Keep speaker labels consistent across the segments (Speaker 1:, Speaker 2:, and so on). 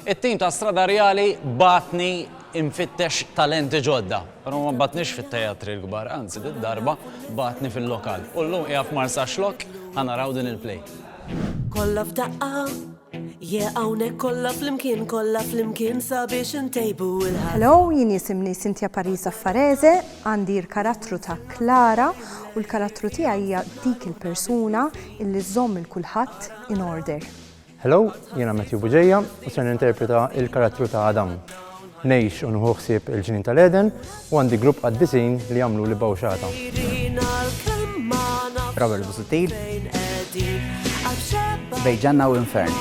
Speaker 1: It-tim ta' Stradarjali bagħatni infittex talenti ġodda, però ma bagħatnix fit-teatri l-kbar, anzi did-darba bagħatni fil-lokal. U llum qiegħa f'Marsaxlokk ħa naraw din il-play. Kollha
Speaker 2: f'daqqa, yeah hawnhekk kollha flimkien, kollha flimkien sabiex intejbu l-ħajja. Hello, jien jisimni
Speaker 3: Cynthia Pariza Farese, għandi l-karattru ta' Clara u l-karattru tiegħi hija dik il-persuna illi żżomm 'il kulħadd in order. Hello,
Speaker 4: jiena Matthew Buġeja u ser ninterpreta il-karattru ta' Adam. Ngħix u nħu ħsieb il-ġnien tal-Eden u għandi grupp qaddisin li jagħmlu li bawxata.
Speaker 5: Robert Busuttil. Bej ġanna u infern.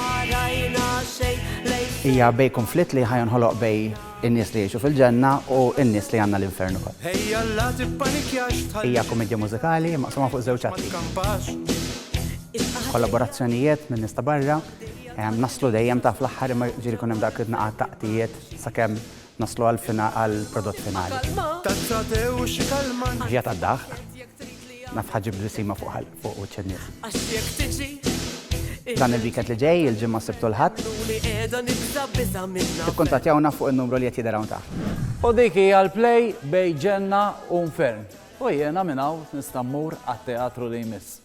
Speaker 5: Hija bej konflitt li ħajonħoloq bej In-nies li jgħixu fil-ġenna u n-nies li għandna l-infern ukoll. Ejja la tippanikjax tħalli. Hija kumedja mużikali maqsuma fuq żewġ atti. Ma tkampax. Kollaborazzjonijiet minn nies ta' barra. Naslu dejjem ta' fl-aħħar imma jiġifieri jkun hemm dawk it-tnaqat ta' qtijiet sakemm naslu għall-prodott finali. Tazza te u xi kalmant. Via tad-daħq. Naf ħa ġġib blisima fuq ħalq fuq wiċċ in-nies. Għax jekk tiġi Dan il-weekend li ġej, il-ġimgħa s-Sibt u l-Ħadd. Ikkuntattjawna fuq in-numru li qed jidher hawn taħt. U dik hija l-play
Speaker 1: bejn Ġenna u Nfern. U jiena minn hawn nista' mmur għat-teatru li jmiss.